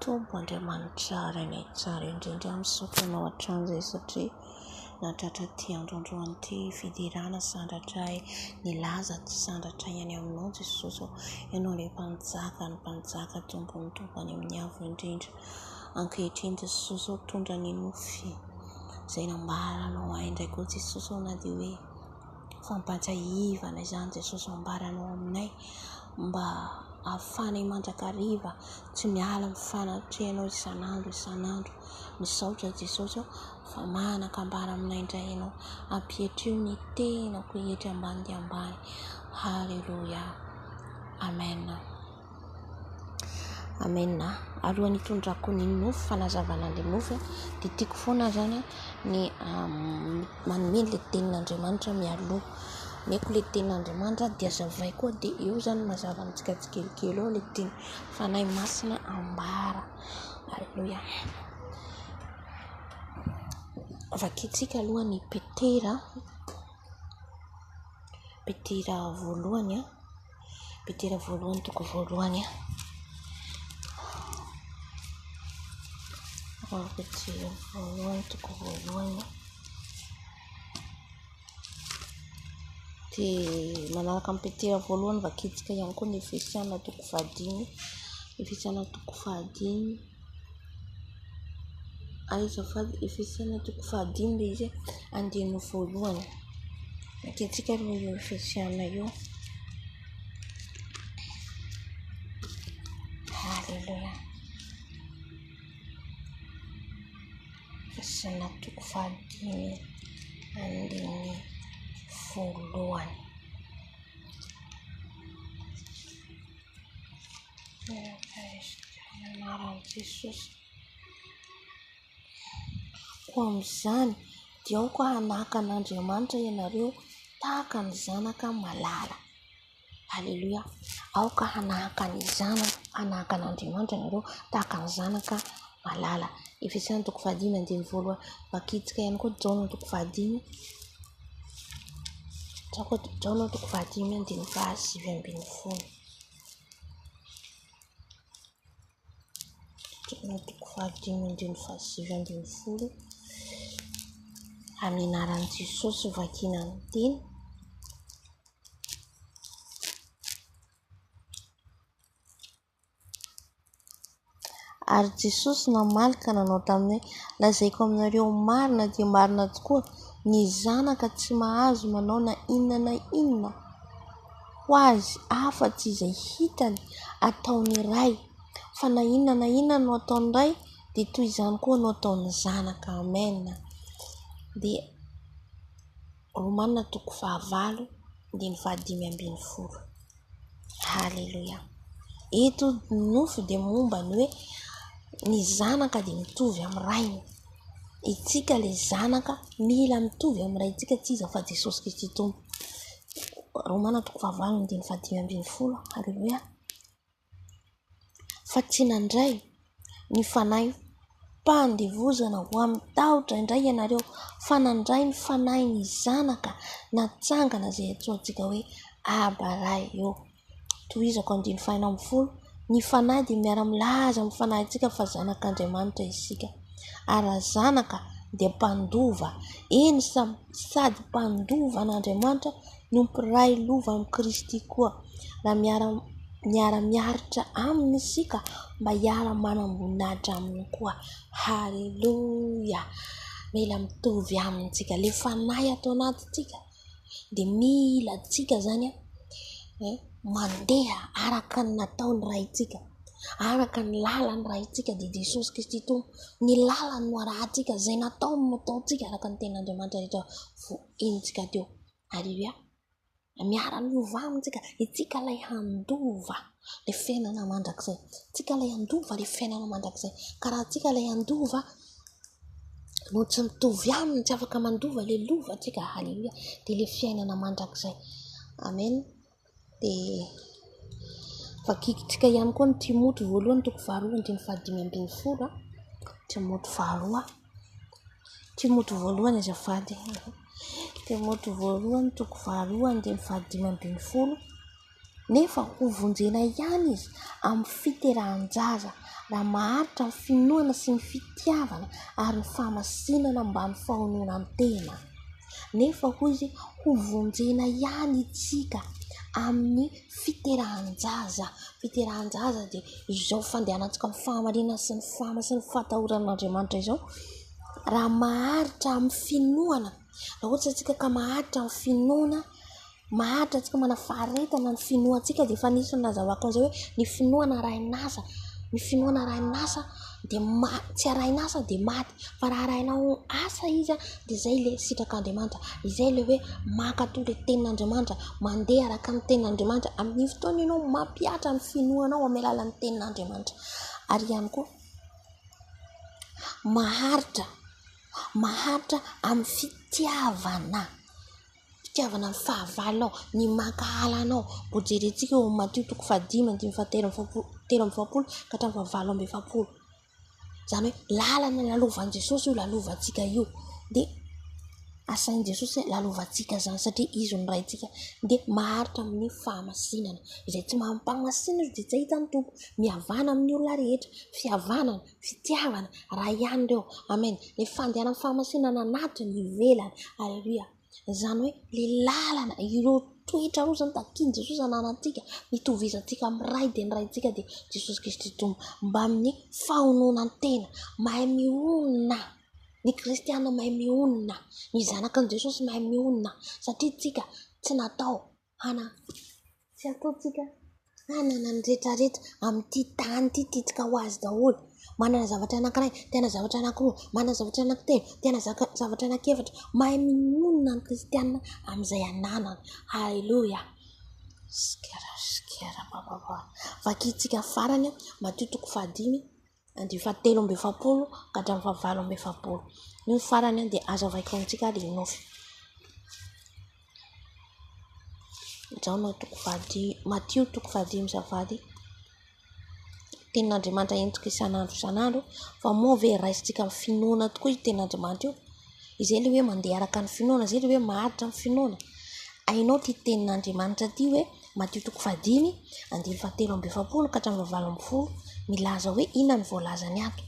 Tompo Andriamanitra Ray nay tsara indrindra misaotra anao hatrany izay satria nahatratra ity andro androany ity fiderana sandratra ahy nilaza tsy sandratra ihany aminao Jesosy ô ianao ilay mpanjaka ny mpanjaka tompo ny tompo any amin'ny avo indrindra ankehitriny Jesosy ô tondra ny nofy izay nambaranao ahy indray koa Jesosy ô na dia hoe fampantsahivana izany Jesosy ambarany ao aminay mba ahafahanay mandrakariva tsy miala amin'ny fanatrehanao isan'andro isan'andro. Misaotra Jesosy aho fa manan-kambara aminay indray ianao. Ampietrio ny tenako eto ambany dia ambany. Haleloia. Amen. Amen a! Alohan'ny hitondrako ny nofy, fanazavana ny nofy, dia tiako foana zany ny manome ilay tenin'Andriamanitra mialoha. Omeko ilay tenin'Andriamanitra dia zavaiko ao dia eo zany mazava amintsika tsikelikely eo ilay teny Fanahy Masina ambara. Aleloia. Vakintsika aloha ny Petera, Petera voalohany a. Petera voalohany toko voalohany a. Ao Petera voalohany toko voalohany a. Dia manaraka amin'ny Petera voalohany vakintsika ihany koa ny Efesiana toko fahadimy. Efesiana toko fahadimy. Aiza fa Efesiana toko fahadimy ilay izy e, andininy voalohany. Ekentsika aloha io Efesiana io. Aleloia. Efesiana toko fahadimy andininy voalohany. Koa amin'izany dia aoka hanahaka an'Andriamanitra ianareo tahaka ny zanaka malala. Aleloia. Aoka hanahaka ny zanaka, hanahaka an'Andriamanitra ianareo tahaka ny zanaka malala. Efesana toko fahadimy andininy voalohany. Vakitsika ihany koa Jaona toko fahadimy, Jaona toko fahadimy andininy fahasivy ambin'ny folo. toko fahadimy andininy fahasivy ambin'ny folo amin'ny anaran'i Jesosy no vakina ny teny. Ary Jesosy namaly ka nanao taminy hoe, Lazaiko aminareo marina dia marina tokoa, ny Zanaka tsy mahazo manao na inona na inona ho Azy afa-tsy izay hitany ataon'ny Ray, fa na inona na inona no ataon'ny Ray dia toy izany koa no ataon'ny Zanaka. Amen. Haleloia. Eto ny nofo dia momba ny hoe ny zanaka dia mitovy amin'ny rainy. Isika ilay zanaka mila mitovy amin'ny raintsika tsy iza fa Jesosy Kristy Tompo. Romana toko fahavalo andininy fahadimy ambin'ny folo. Haleloia. fa tsy nandray ny fanahi-pandevozana ho amin'ny tahotra indray ianareo fa nandray ny fanahin'ny zanaka natsangana izay antsointsika hoe aba raha eo. Tohizako andiny fahenina ambin'ny folo, ny fanahy dia miara-milaza amin'ny fanahintsika fa zanak'Andriamanitra isika ary raha zanaka dia mpandova, eny sady mpandova an'Andriamanitra. no mpiray lova amin'i Kristy koa, raha miara-miaritra Aminy isika mba hiara-manamboninahitra Aminy koa. Haleloia! Mila mitovy Aminy isika. Ilay Fanahy ato anatintsika dia mila antsika izany mandeha araka ny nataon'ny Raintsika, araka ny lalan'ny Raintsika, dia i Jesosy Kristy Tompo. Ny lalany no arahintsika, izay nataony no ataontsika araka ny Tenin'Andriamanitra rehetra voaenjika teo. Aleloia. Miara-miova aminy isika. Isika ilay handova ilay fiainana mandrakizay. Isika ilay handova ilay fiainana mandrakizay. Ka raha isika ilay handova no tsy mitovy aminy, tsy afaka mandova ilay lovantsika, aleloia, dia ilay fiainana mandrakizay. Amena. dia vakiantsika ihany koa ny Timothy voalohany toko faharoa andininy fahadimy ambin'ny folo a, Timothy faharoa, Timothy voalohany azafady, Timothy voalohany toko faharoa andininy fahadimy ambin'ny folo, nefa hovonjena ihany izy amin'ny fiterahan-jaza raha maharitra ny finoana sy ny fitiavana ary ny famasinana mba ny fahononan-tena. Nefa hoy izy, hovonjena ihany isika amin'ny fiterahan-jaza. Fiterahan-jaza dia izao fandehanantsika amin'ny fahamarinana sy ny fahamasinana sy ny fahatahorana an'Andriamanitra izao. Raha maharitra amin'ny finoana, raha ohatra isika ka maharitra amin'ny finoana maharitra antsika, manafaharetana ny finoantsika dia efa nisy ny nazahoako an'izay hoe ny finoana arahin'asa, ny finoana arahin'asa dia ma- tsy arahin'asa dia maty fa raha arahinao asa izy an, dia izay ilay sitrak'Andriamanitra, izay ilay hoe mankatò ilay tenin'Andriamanitra, mandeha araka ny tenin'Andriamanitra, amin'iny fotoana iny ianao mampihatra ny finoanao amin'ny alalan'ny tenin'Andriamanitra, ary ihany koa maharitra, maharitra amin'ny fitiavana. fitiavana ny fahavalona ao, ny mankahala anao. Vao jerentsika ao amin'ny Matio toko fahadimy andininy fahatelo amby efapolo, telo amby efapolo ka hatramin'ny fahavalo amby efapolo. Izany hoe lalana lalovan'i Jesosy io lalovantsika io. Dia asain'i Jesosy hoe lalovantsika izany satria izy no Raintsika. Dia maharitra amin'ny fahamasinana. Izay tsy mahampagmasinina dia tsy hahita ny Tompo. Mihavana amin'ny olona rehetra. Fihavanana. Fitiavana Ray ihany ireo. Amen. Ilay fandehanan'ny fahamasinana anaty ny ivelany. Aleloia. Izany hoe ilay lalana, ireo toetra ireo izany takian'i Jesosy ananantsika, hitovizantsika amin'ny Ray dia ny Raintsika dia Jesosy Kristy Tompo. Mbamin'ny fahononan-tena, mahay mihonona. Ny kristiana mahay mihonona. Ny zanakan'i Jesosy mahay mihonona satria tsika tsy natao Hanana. Tsy ataontsika hanana ny rehetra rehetra amin'ity tany ity tiantsika ho azy daholo. Manana zavatra anankiray, te hanana zavatra anankiroa, manana zavatra anankitelo, te hanana zavatra anankiefatra. Mahay mionona ny kristiana amin'izay ananany. Aleloia. Sker sker bababa. Vakintsika farany matoa toko fahadimy Andiany fahatelo amby efapolo ka hatramin'ny fahavalo amby efapolo. Io ny farany dia azo avaiko amintsika ary ny nofy. Jaona toko fahadimy, Matio toko fahadimy sy fahavalo. Tenin'Andriamanitra entiko isan'andro isan'andro fa moa ve raisintsika amin'ny finoana tokoa io tenin'Andriamanitra io? Izay ilay hoe mandeha araka ny finoana, izay ilay hoe maharitra amin'ny finoana. Hainao ity tenin'Andriamanitra ity hoe Matio toko fahadimy, andininy fahatelo amby efapolo ka hatramin'ny fahavalo ambin'ny folo, milaza hoe inona ny voalazany ato.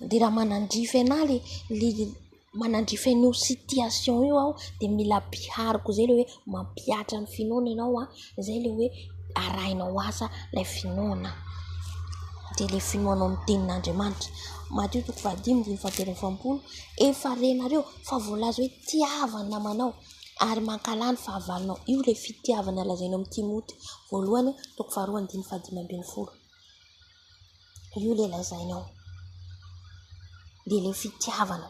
Dia raha manandrify anà ilay ilay manandrify an'io situation io aho dia mila ampihariko izay ilay hoe mampihatra ny finoana ianao an, izay ilay hoe arahinao asa ilay finoana. Dia ilay finoanao amin'ny tenin'Andriamanitra. Matio toko fahadimy, andininy fahatelo amby efapolo, efa renareo fa voalaza hoe tiava ny namanao. Ary mankahala ny fahavalonao. Io ilay fitiavana lazainao amin'i Timoty voalohany, toko faharoa andininy fahadimy ambin'ny folo. Io ilay lazainao. Dia ilay fitiavana.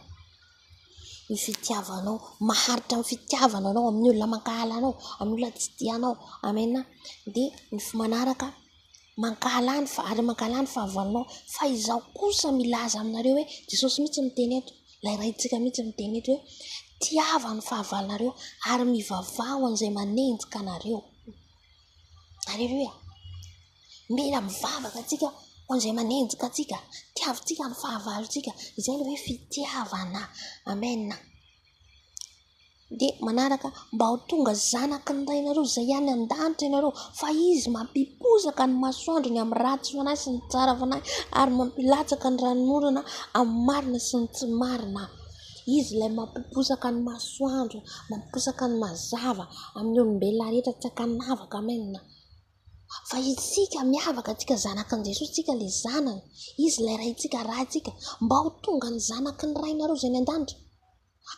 Io fitiavanao. Maharitra amin'ny fitiavana anao amin'ny olona mankahala anao, amin'ny olona tsy tianao. Amena. Dia ny manaraka. mankahala ny fa- ary mankahala ny fahavalonao. Fa izaho kosa milaza aminareo hoe, Jesosy mihitsy no niteny eto, ilay Raintsika mihitsy no niteny eto hoe, Tiava ny fahavalonareo ary mivavaha ho an'izay manenjika anareo. Aleloia. Mila mivavaka antsika ho an'izay manenjika antsika. Tiavintsika ny fahavalontsika. Izay ilay hoe fitiavana. Amena. Dia manaraka mba ho tonga zanaky ny Rainareo izay any an-danitra ianareo, fa Izy mampipozaka ny masoandro ny amin'ny ratsy fanahy sy ny tsara fanahy, ary mampilatsaka ny ranon'orana amin'ny marina sy ny tsy marina. Izy ilay mampipozaka ny masoandro, mampipozaka ny mazava amin'ny olombelona rehetra tsy an-kanavaka. Amena. Fa isika miavaka tsika zanaka an'i Jesosy tsika le zanany izy ilay raintsika raha tsika mba ho tonga ny zanaky ny rainareo zay any an-danitra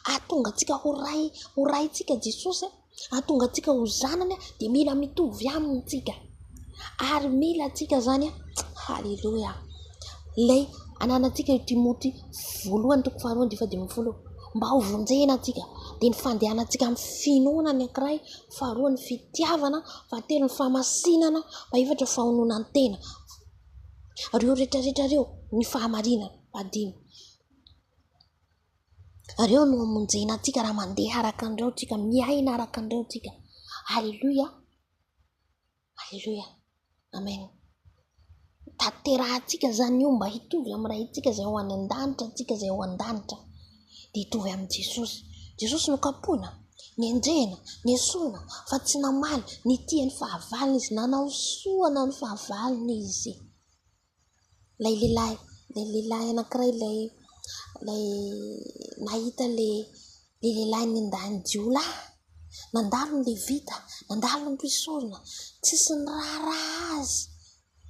ahatonga antsika ho ray ho raintsika Jesosy ahatonga antsika ho zanany de mila mitovy aminy tsika ary mila tsika zany haleloia ilay ananatsika io Timoty voalohany toko faharoa andifa dimy folo mba ho vonjena tsika de ny fandehanantsika amin'ny finoana ny ankiray faharoa ny fitiavana, fahatelo ny famasinana, fahefatra ny fahaononan-tena, ary ireo rehetra rehetra ireo ny fahamarinana, fahadimy, ary eo no hamonjena antsika raha mandeha araka an'ireo tsika, miaina araka an'ireo tsika, aleloia. Aleloia Amen Tanterahantsika zany io mba hitovy amin'ny Raintsika izay ho any an-danitra antsika izay ao an-danitra dia hitovy amin'i Jesosy. Jesosy nokapohina, nenjehina, nesorina fa tsy namaly, nitia ny fahavalony Izy, nanao soa ny fahavalony Izy. Ilay lehilahy, ilay lehilahy anankiray ilay, ilay nahita ilay lehilahy nendahiny jiolahy, nandalo ny levita, nandalo ny mpisorona, tsisy niraharaha azy,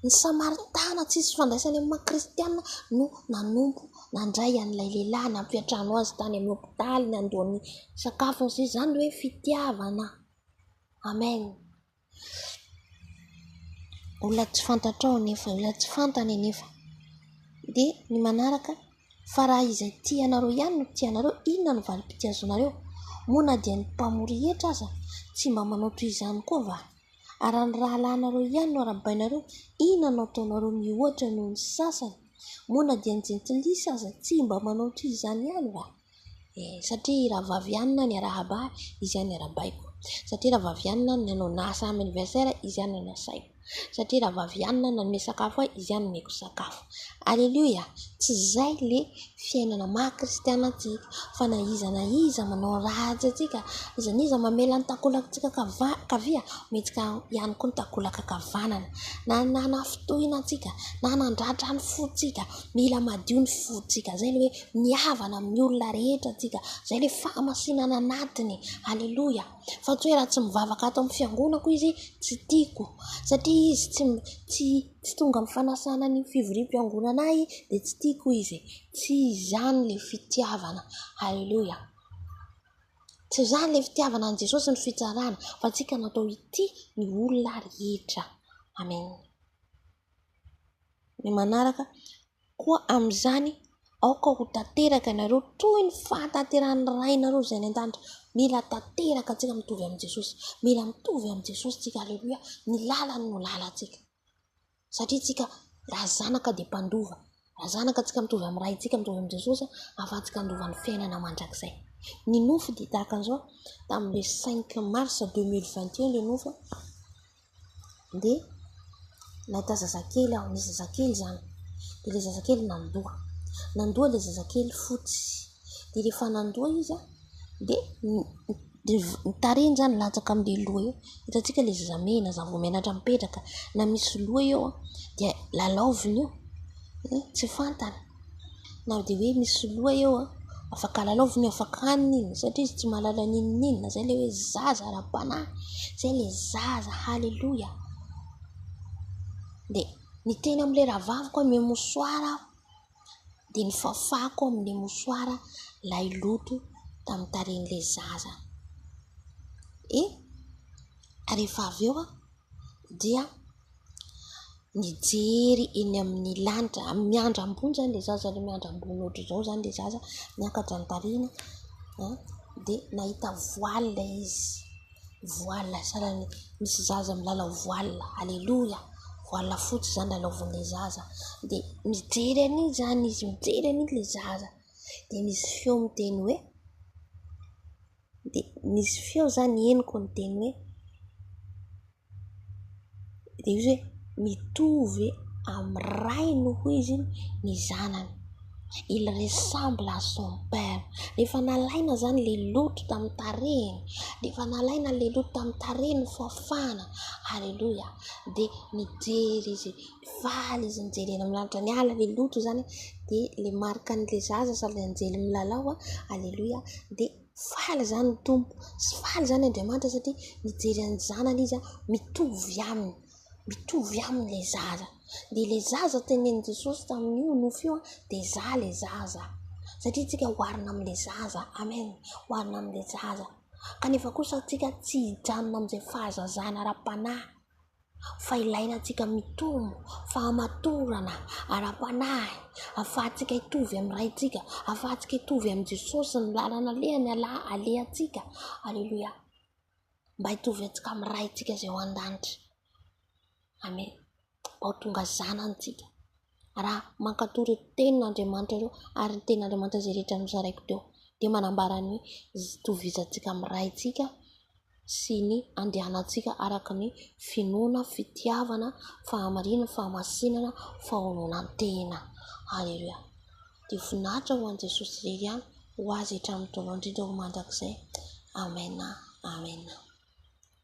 ny samaritana tsisy ifandraisany amin'ny maha kristiana no nanompo nandray an'ilay lehilahy nampiantrano azy tany amin'ny hopitaly, nandoa ny sakafony sy izany hoe fitiavana. Amen. olona tsy fantatrao anefa, olona tsy fantany anefa. Dia ny manaraka, fa raha izay tianareo ihany no tianareo, inona no valim-pitiazanareo? Moa na dia ny mpamory hetra aza tsy mba manao toy izany koa va? Ary raha ny rahalahinareo ihany no arahabainareo, inona no ataonareo mihoatra noho ny sasany? Moa na dia ny jentilisa aza tsy mba manao toy izany ihany va? Eh, satria rahavavy ihany na ny arahaba ahy, izy ihany no arahabaiko. Satria rahavavy ihany na ny nanao na samy anniversaire ahy, izy ihany no nasaiko. Satria rahavavy ihany na ny nanome sakafo ahy, izy ihany no nomeko sakafo. Aleloia! Tsy izay ilay fiainana maha kristiana antsika, fa na iza na iza manao ratsy antsika, na iza na iza mamela ny takolantsika kava- kavia, omentsika ihany koa ny takolan-kakavanana. Na ny nanafintohina antsika, na nandratra ny fontsika, mila madio ny fontsika. Izay ilay hoe. ny havana amin'ny olona rehetra tsika izay ilay fahamasinana anatiny aleloia fa tsy hoe raha tsy mivavaka ato amin'ny fiangonako izy tsy tiako satria izy tsy tsy tsy tonga amin'ny fanasana ny fivoriam-piangonana ahy dia tsy tiako izy tsy izany ilay fitiavana aleloia tsy izany ilay fitiavana an'i jesosy ny fitsarana fa tsika natao hitia ny olona rehetra amena Ny manaraka, Koa amin'izany aoka ho tanteraka ianareo toy ny fahatanterahan'ny Rainareo izay any an-danitra. Mila tanteraka antsika mitovy amin'i Jesosy. Mila mitovy amin'i Jesosy isika. Aleloia. Ny lalany no lalantsika. Satria isika raha zanaka dia mpandova. Raha zanaka, antsika mitovy amin'ny Ray, antsika mitovy amin'i Jesosy, ahafahantsika handova ny fiainana mandrakizay. Ny nofy dia tahaka an'izao, tamin'ilay cinq mars deux mille vingt et un ilay nofy, dia nahita zazakely aho, nisy zazakely izany, dia ilay zazakely nandoa, nandoa ilay zazakely fotsy, dia rehefa nandoa izy an, dia ny. Dia ny tarehiny izany latsaka amin'ilay loha eo. Hitantsika ilay zazamena, zavomenatra mipetraka na misy loha eo dia lalaoviny io, tsy fantany na dia hoe misy loha eo, afaka lalaoviny, afaka haniny iny satria izy tsy mahalala n'inona n'inona. Izay ilay hoe zaza ara-panahy, izay ilay zaza. Haleloia! Dia niteny amin'ilay rahavaviko hoe mihamosoara aho. dia ny fafako amin'ny mosoara ilay loto tamin'ny tarehin'ilay zaza. Eh! Rehefa avy eo aho dia nijery eny amin'ny lanitra, miandry ambony izany ilay zaza, ilay miandry ambony hoatr'izao izany ilay zaza, miakatra ny tarehiny an, dia nahita voaly ilay izy. Voile sanany misy zaza milalao voile aleloia voile fotsy izany lalaovin'ny zaza dia mijery an'iny izany izy mijery an'iny ilay zaza dia misy feo miteny hoe dia misy feo izany henoko miteny hoe dia izy hoe mitovy amin'ny rainy hoy izy iny ny zanany, il ressemble à son père, rehefa nalaina izany ilay loto tamin'ny tarehiny, rehefa nalaina ilay loto tamin'ny tarehiny ny fahafahana, aleloia, dia nijery izy, faly izy nijery eny amin'ny lanitra, niala ilay loto izany dia ilay marika an'ilay zaza sady anjely milalao, aleloia, dia. Faly izany ny Tompo sy faly izany Andriamanitra satria mijery an'ny zanany Izy mitovy aminy, mitovy aminy ilay zaza. Dia ilay zaza tenenin'i Jesosy tamin'io nofy io dia izaho ilay zaza. Satria isika oharina amin'ilay zaza. Amen. Oharina amin'ilay zaza. Kanefa kosa isika tsy hijanona amin'izay fahazazana ara-panahy. fa ilaina antsika mitombo fahamatorana ara-panahy afahantsika hitovy amin'ny Raintsika, afahantsika hitovy amin'i Jesosy ny lalana alehany ialahy, alehantsika, aleloia, mba hitovy antsika amin'ny Raintsika izay ao an-danitra, amena, mba ho tonga zanany tsika. raha mankatò ireo tenin'Andriamanitra ireo ary ny tenin'Andriamanitra izay rehetra nozaraiko teo, dia manambara ny itovizantsika amin'ny Raintsika sy ny andianantsika araka ny finoana, fitiavana, fahamarinana, fahamasinana, fahaononantena. Aleloia. Dia voninahitra ho an'i Jesosy irery ihany, ho Azy hatramin'ny taona indrindra, ho mandrakizay. Amena, amena.